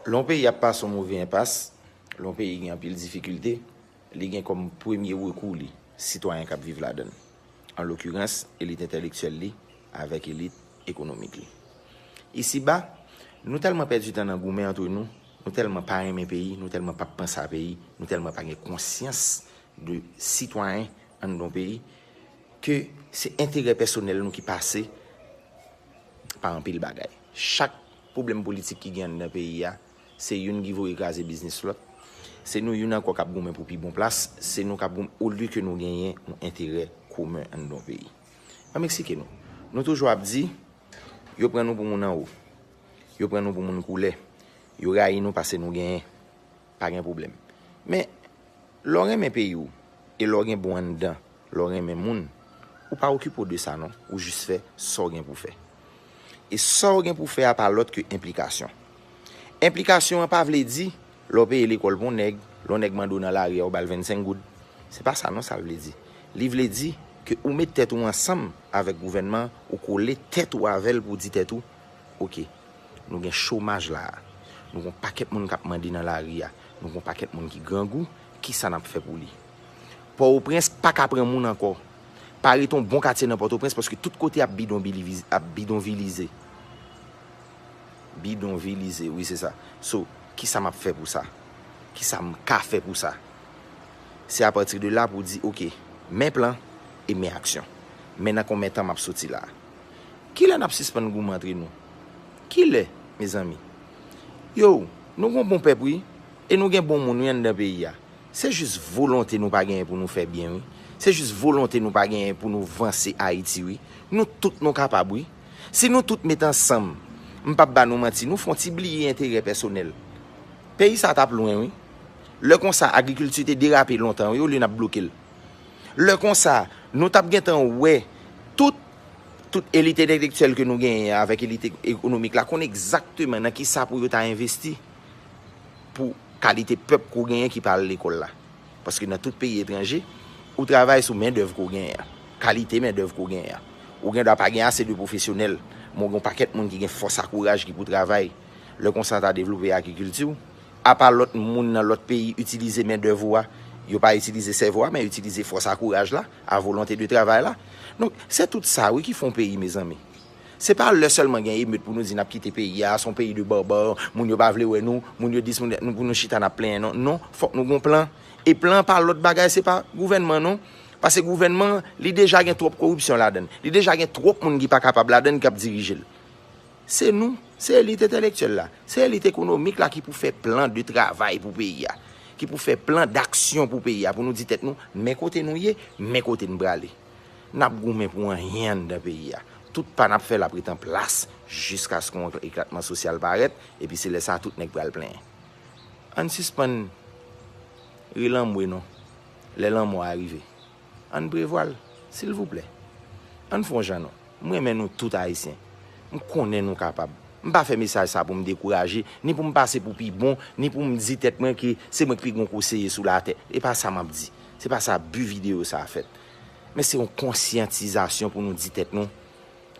Lè yon peyi ap pase yon move enpas, lè yon peyi gen anpil difikilte, li gen kòm premye rekou li sitwayen k ap viv ladan l, an lokirans elit entèlektyèl li avèk elit ekonomik li. Isiba, nou tèlman pèdi tan nan goumen antre nou, nou tèlman pa renmen peyi, nou tèlman pa p panse a peyi, nou tèlman pa gen konsyans de sitwayen anndan yon peyi, ke se enterè pèsonèl nou ki pase pa anpil bagay. Chak pwoblèm politik ki gen anndan peyi a, se youn ki voye kraze biznis lòt. Se nou youn ankò k ap goumen pou pi bon plas, se nou k ap goumen olye ke nou genyen yon enterè komen anndan yon peyi. An m eksplike nou. Nou toujou ap di, yo pran nou pou moun anwo, yo pran nou pou moun koulè, yo rayi nou pase nou genyen. Pa gen pwoblèm. Men, lè w renmen peyi w e lè w gen bon anndan, lè w renmen moun, ou pa okipe w de sa non, ou jis fè sa w gen pou w fè. E sa w gen pou w fè a pa lòt ke enplikasyon. Enplikasyon an pa vle di, lè w peye lekòl pou yon nèg, lè yon nèg mande w nan lari a ou ba l 25 goud. Se pa sa non sa l vle di. Li vle di ke ou met tèt ou ansanm avèk gouvènman an, ou kole tèt ou avè l pou w di tèt ou, Ok. Nou gen chomaj la a. Nou gon pakèt moun kap mande nan lari a. Nou gon pakèt moun ki grangou. Kisa nap fè pou li? Pòoprens pa ka pran moun ankò. Pa rete yon bon katye nan Pòtoprens paske tout kote ap bidonvilize. Bidonvilize, wi se sa. So, kisa map fè pou sa? Kisa m ka fè pou sa? Se apati de la pou w di, ok, men plan e men aksyon. Men nan konben tan map soti la a. Kilè nap sispann goumen antre nou? Kilè mezanmi? Yow nou gon bon pèp wi e nou gen bon moun wi anndan peyi a. Se jis volonte nou pa genyen pou nou fè byen wi. Se jis volonte nou pa genyen pou nou vanse Ayiti wi. Nou tout nou kapab wi. Si nou tout met ansanm, m pap ba nou manti, nou fon ti bliye enterè pèsonèl. Peyi sa tap lwen wi. Lè konsa agrikilti te derape lontan wi olye nap bloke l. Lè konsa, nou tap gentan wè tout tout elit entelektyèl ke nou genyen an avèk elit ekonomik la konn egzakteman nan kisa pou yo ta envesti pou kalite pèp ke w genyen ki pa al lekòl la. Paske nan tout peyi etranje, ou travay sou mendèv ke w genyen an, kalite mendèv ke w genyen an. Ou gen dwa pa gen ase de pwofesyonèl, men w gen yon pakèt moun ki gen fòs ak kouraj ki pou travay. Lè konsa ta devlope agrikilti w, Apa lòt moun nan lòt peyi itilize mendèv ou a, yo pa itilize sèvo a men yo itilize fòs a kouraj la, a volonte de travay la. Donk, se tout sa wi ki fè yon peyi mezanmi. Se pa lè sèlman gen emet pou nou di n ap kite peyi a, se yon peyi de barbare, moun yo pa vle wè nou, moun yo dis moun dat, pou nou chita n ap plenyen non. Non, fòk nou gen yon plan. E plan an pa lòt bagay, se pa gouvènman non. Pase gouvènman an, li deja gen twòp koripsyon ladan l. Li deja gen twòp moun ki pa kapab ladan l, ki ap dirije l. Se nou, se elit entèlektyèl la, se elit ekonomik la ki pou fè plan de travay pou peyi a, ki pou fè plan daksyon pou peyi a, pou nou di tèt nou, men kote nou ye, men kote n prale. N ap goumen pou anyen anndan peyi a. Tout pa n ap fè l ap ret an plas jiskaske yon eklatman sosyal parèt, epi se lè sa a tout nèg pral plenyen. Ann sispann ri lanmwe non, lè lanmò a rive. Ann prevwa l, silvouplè. Ann fè yon jan non. M renmen nou tout Ayisyen. M konnen nou kapab. M pa fè mesaj sa pou m dekouraje, ni pou m pase pou pi bon, ni pou m di tèt mwen ke se mwen ki pi gwo konseye sou latè. E pa sa m ap di. Se pa sa bi videyo sa a fèt. Men se yon konsyantizasyon pou nou di tèt nou,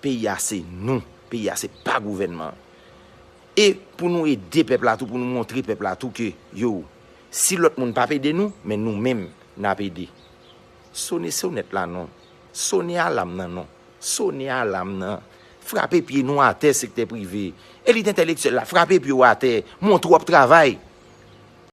peyi a se nou, peyi a se pa gouvènman an. E pou nou ede pèp la tou, pou nou montre pèp la tou ke, yow, si lòt moun pa p ede nou, men nou menm n ap ede. Sone sonèt la non. Sone alam nan non. Sone alam nan. Frape pye nou atè sektè prive. Elit entèlektyèl la frape pye w atè. Moun twòp travay.